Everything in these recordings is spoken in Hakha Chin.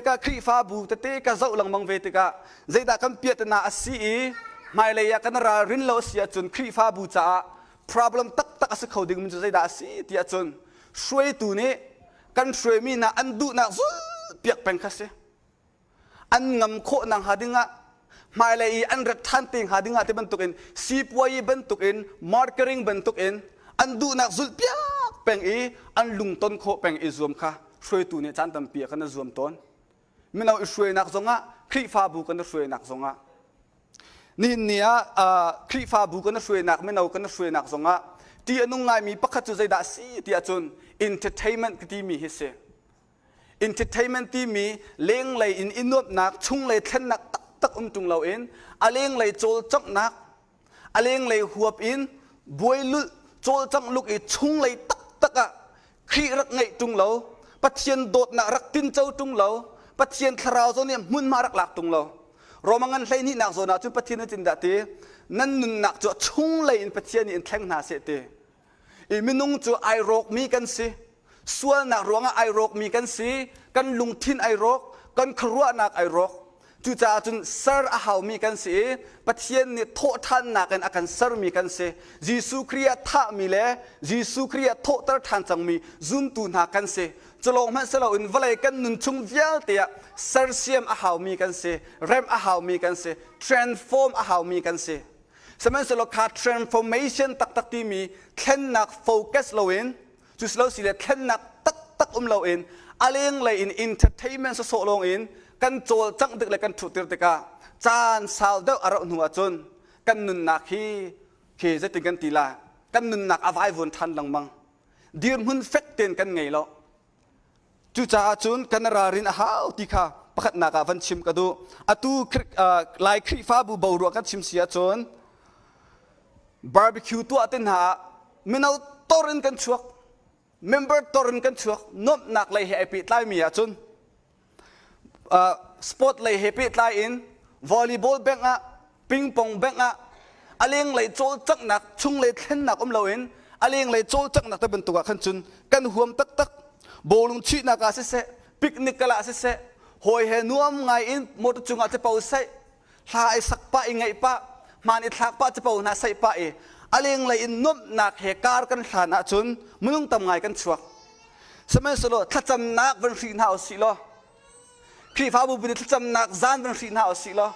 ka Khrihfabu tete ka zoh lengmang ve tikah zeidah kan piahtana a si i hmailei ah kan ralrin lo a si ahcun Khrihfabu caah problem taktak a si kho dingmi cu zeidah a si ti ahcun hruaitu nih kan hruaimi hna an duhnak zulpiak peng kha si. An ngam khawh nakhnga dingah hmailei i an rat ṭhan te hnga ding ah ti bantukin sipuayi bantukin markering bantukin an duhnak zulhpiak peng i an lungton khawh peng i zuam kha hruaitu nih caan tampi ah kan i zuam tawn mino i hruainak zongah Khrihfabu kan i hruainak zongah nihin ni ah Khrihfabu kan i hruainak mino kan i hruainak zongah ṭih a nung ngaimi pakhat cu zeidah a si ti ahcun entertainment ka timi hi si Entertainment timi lenglei in i nuamhnak, chunglei thlennak taktak um ṭung loin a lenglei cawlcanghnak, a lenglei huap in buailulh, cawlcangh luk i chunglei taktak ah Khrih rak ngeih ṭung lo, Pathian dawtnak rak tinco ṭung lo, Pathian thlarau zawn nih hmunhma rak lak ṭung lo. Roma ngan hlehnihnak zawn ah cun Pathian nih tindah ti? Nan nunnak cu a chunglei in Pathian nih in thleng hna seh ti. i minung cu ai rawkmi kan si sualnak ruangah ai rawkmi kan si kan lungthin ai rawk kan khuaruahnak ai rawk cucaah cun ser a haumi kan si i Pathian nih thawhthannak in a kan sermi kan si Jesuh Khrih a thahmi le Jesuh Khrih a thawhter ṭhan cangmi zumtu hna kan si culawng hmanh si loin vawlei kan nun chung vialte ah sersiam a haumi kan si remh a haumi kan si transform a haumi kan si Sihmanhsehlaw kha transformation taktak timi thlennak focus loin cu si lo si le thlennak taktak um loin a lenglei in entertainment sawsawh lawng in kan cawlcangh tik le kan ṭhutter tikah caan sau deuh a rauh hnu ahcun kan nunnak hi he zeitin kan ti lai kan nunnak a vaivuan ṭhan lengmang dirhmun fek tein kan ngei lo Cucaah cun kan ralrin a hau ti kha pakhatnak ah van chim ka duh. Atu Lai Khrihfabu boruak kan chim si ahcun barbecue tuah te hna ah mino tor in kan chuak, member tor in kan chuak, nuamhnak lei he ai pehtlaimi ahcun sport lei he pehtlai in volleyball bank ah pingpong bank ah a lenglei cawlcanghnak chung le thlennak um loin a lenglei cawlcanghnak te bantuk ah khan cun kan huam taktak bawlung chuihnak ah siseh picnic kal ah siseh hawi he nuam ngai in motor cungah te pau seh hla i sak pah i ngaih pah hmaan i thlak pah capo hna saih pah i a lenglei in nuamhnak he kar kan hlan ahcun minung tam ngai kan chuak sihmanhsehlaw thlacamnak van hri hna u sih law Khrihfabu bun i thlacamnak zan van hri hna u sih law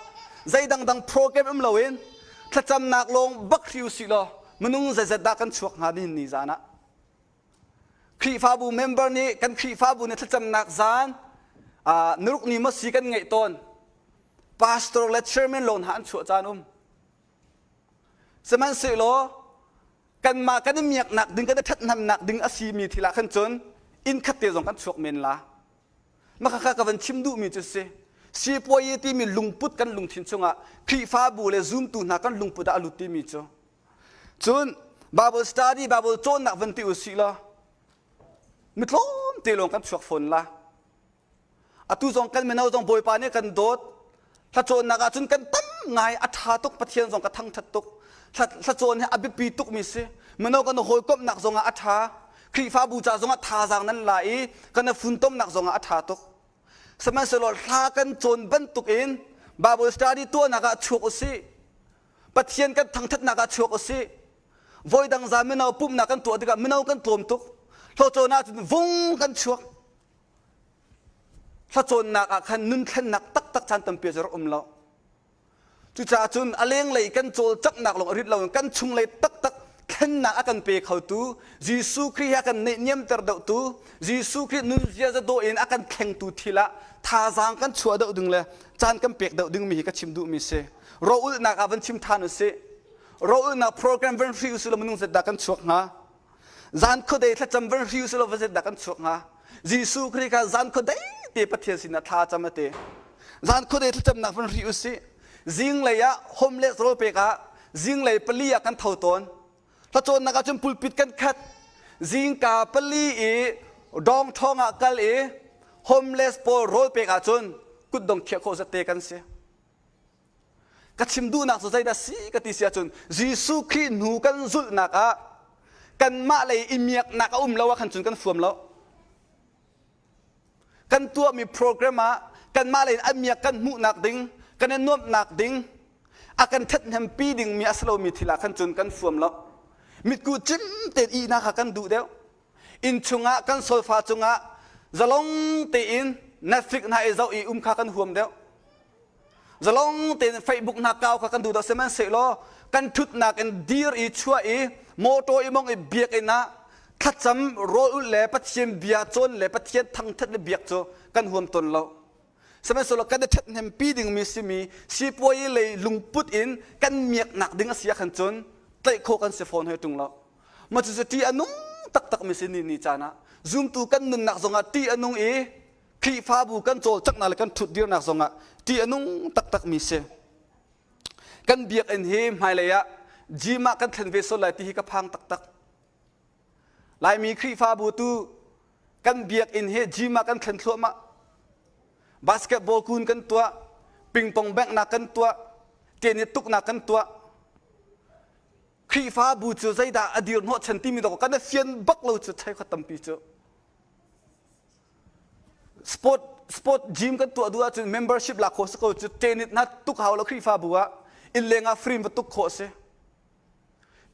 zei dangdang program um loin thlacamnak lawng bak hri u sih law minung zeizat dah kan chuak hnga nihin ni zan ah Khrihfabu member nih kan Khrihfabu na thlacamnak zan ah naruk ni maw si kan ngaih tawn. Pastor le chairman lo hna an chuah caan um. Sihmanhsehlaw kanmah kan i miaknak ding kan i ṭhathnemnak ding a simi thil ah khan cun inn khat te zong kan chuak men la. Makhakha ka van chim duhmi cu si. Sipuai timi lungput kan lungthin chungah Khrihfabu le zumtu hna kan lungput ah a lut timi cu Cun Bible study, Bible cawnnak van ti u sih law mitlawm te lawng kan chuak fawn la. Atu zong kan mino zong Bawipa nih kan dawt. Hla cawnnak ahcun kan tam ngai a ṭha tuk Pathian zong ka thangṭhat tuk. Hla cawn hi a biapi tukmi si. Mino kan hawikomhnak zongah a ṭha. Khrihfabu ca zongah thazaang nan la i kan i funtomnak zongah a ṭha tuk. Sihmanhsehlaw hla kan cawn bantukin Bible study tuahnak ah chuak u sih. Pathian kan thangthatnak ah chuak usih. Voidang zaan mino pumhnak kan tuah tikah mino kan tlawm tuk. Hlacawn ahcun vung kan chuak. Hlacawnnak ah khan nun thlennak taktak caan tampi cu rak um lo. Cucaah cun a lenglei kan cawlcanghnak lawng a rit lo in kan chunglei taktak thlennak a kan pe khotu Jesuh Khrih a kan neihniamter dohtu Jesuh Khrih nun ziaza dawh in a kan thlengtu thil ah thazaang kan chuah doh ding le caan kan pek doh dingmi hi ka chim duhmi si. Roulhnak ah van chim than usih. Roulhnak program van hri usih law minung zetdah kan chuak hnga. Zan khuadei thlacam van hri usih law va zetdah kan chuak hnga. Jesuh Khrih kha zan khuadei te Pathian sinah thla cam a ti. Zan khuadei thlacamnak van hri usih. Zinglei ah homeless rawl pek ah zinglei pali ah kan tho tawn. Tlacawnnak ah cun pulpit kan khat. Zingka pali i dong thong ah kal i homeless pawl rawl pek ah cun kutdong khiah khawh zate kan si. Ka chim duhnak cu zeidah si ka ti si ahcun Jesuh Khrih hnu kan zulhnak ah kanmah lei i miaknak a um lo ah khan cun kan fuam lo. Kan tuahmi program ah kanmah lei in a miak kan hmuhnak ding, kan i nuamhnak ding, a kan ṭhathnempi dingmi a si lomi thil ah khan cun kan fuam lo. Mitku cim tein ihnak kha kan duh deuh. inn chungah kan solfa cungah zalong tein Netflix hna i zoh i um kha kan huam deuh zalong tein Facebook hna kau kha kan duh deuh sihmanhsehlaw kan ṭhutnak in dir i chuah i motor i mong i biakinn ah thlacam rawl ulh le Pathian bia cawn le Pathian thangṭhat le biak cu kan huam tawn lo Sihmanhsehlaw kan i ṭhathnempi dingmi simi sipuai i lei lungput in kan miaknak ding a si ahkhan cun tlaih khawh kan si fawn hoi ṭung lo. Mah cucu ṭih a nung taktakmi si ni ni caan ah zumtu kan nunnak zongah ṭih a nung i Khrihfabu kan cawlcanghnak le kan ṭhut dirnak zongah ṭih a nung taktakmi si. Kan biakinn hi hmailei ah gym ah kan thlen ve sual lai ti hi ka phang taktak. Laimi Khrihfabu tu kan biakinn hi gym ah kan thlen thluahmah. Basketball kun kan tuah, pingpong bengnak kan tuah, tenis tuknak kan tuah. Khrihfabu cu zeidah a dir hnawhchan timi dok kan fian bak lo cu chai kho tampi cu. Sport sport gym kan tuah duh ahcun membership la kho si ko cu tennis na tuk hau lo Khrihfabu ah inn leng ah free va tuk khawh si.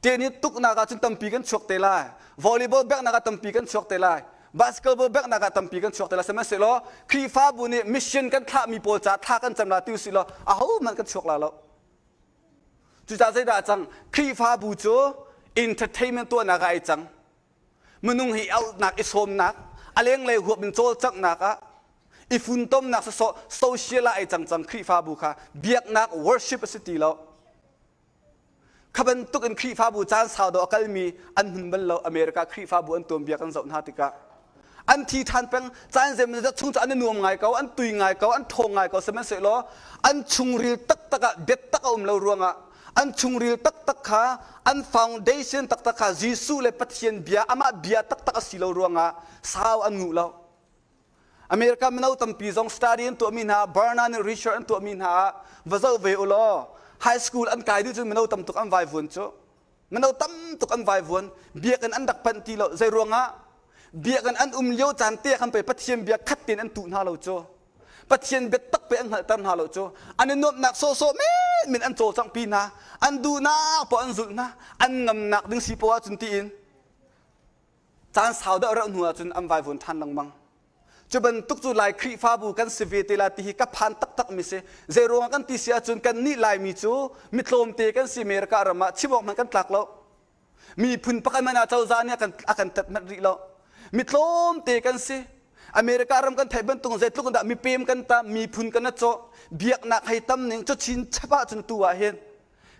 Tehni tuknak ah cun tampi kan chuak te lai. Volleyball backnak ah tampi kan chuak te lai. Basketball backnak ah tampi kan chuak te lai. Sihmanhsehlaw Khrihfabu nih mission kan thlahmi pawl caah thla kan cam la ti usih law ahohmanh kan chuak la lo. Cucaah zeidah a cang? Khrihfabu cu entertainment tuahnak ah ai cang. Minung hi auhnak i sawmnak, a lenglei huap in cawlcanghnak ah, i funtomnak sawsawh social ah ai cang cang Khrihfabu kha. Biaknak worship a si ti lo. Kha bantuk in Khrihfabu caan sau dawh a kalmi an hmun bal lo America Khrihfabu an tuanbia kan zoh hna tikah an thi ṭhan peng caan zeimawzat chung cu an i nuam ngai ko an tui ngai ko an ṭhawng ngai ko sihmanhsehlaw an chungril taktak ah biatak a um lo ruangah an chungril taktak kha an foundation taktak kha Jesuh le Pathian bia amah bia taktak a si lo ruangah sau an nguh lo America mino tampi zong study an tuahmi hna, Burna nih research an tuahmi hna ah va zoh ve u law high school an kai dih cun mino tam tuk an vaivuan cu. Mino tam tuk an vaivuan, biakinn an rak phanh ti lo. Zei ruangah? Biakinn an um lio caan te khan pei Pathian bia khat tein an tuh hna lo cu. Pathian biatak pei an hngalhter hna lo cu. An i nuamhnak sawhsawh menmen an cawlcanghpi hna. An duhnak poah an zulh hna. An ngamnak ding si poah cun tiin caan sau deuh rauh hnu ahcun an vaivuan ṭhan lengmang cu bantuk cu lai khrihfabu kan si ve te la ti hi ka phan taktak mi si zeiruangah kan ti si ahcun kannih laimi cu mitlawmte kan si America ram ah chimawk hmanh kan tlak lo miphun pakhat hmanh ah cozah nih a kan tat manh rih lo mitlawmte kan si America ram kan theih bantuk zeitluk in dah mipem kan tam miphun kan a cawh biaknak hei tam ning cu chin chap ahcun tu ah hin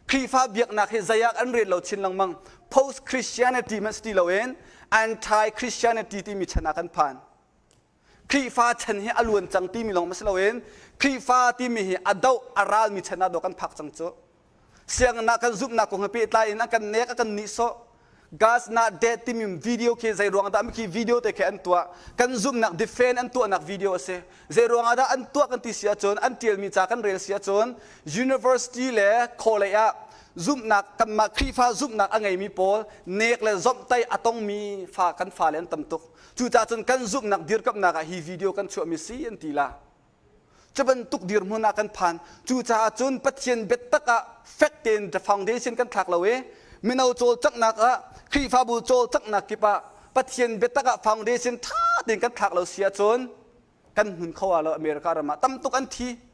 Khrihfa biaknak hi zeiah an rel lo chin lengmang. Post Christianity hmanh si ti loin anti-Christianity timi chan ah kan phan. Khrihfa chan hi a luan cang timi lawng si loin Khrihfa timi hi a doh a ralmi chan ah do kan phak cang cu. Sianginn ah kan zumhnak kong he pehtlai in a kan nek a kan nihsawh. Gas Not Dead timi video khi zeiruang dah khi video te khi an tuah kan zumhnak defen an tuahnak video a si zeiruang ah dah an tuah kan ti si ahcun an tialmi ca kan rel si ahcun university le khaw ah zumhnak kanmah Khrihfa zumhnak a ngeimi pawl nek le zomhtei a tongmi fa kan fa le an tam tuk cucacun kan zumhnak dirkamhnak ah hi video kan chuahmi si an ti la Cu bantuk dirhmun ah kan phan. Cucaah cun Pathian biatak ah fek tein the foundation kan thlak lo i mino cawlcanghnak ah Khrihfabu cawlcanghnak kip ah Pathian biatak ah foundation tha tein kan thlak lo si ahcun kan hmun kho aa lo. America ram ah tam tuk an thi.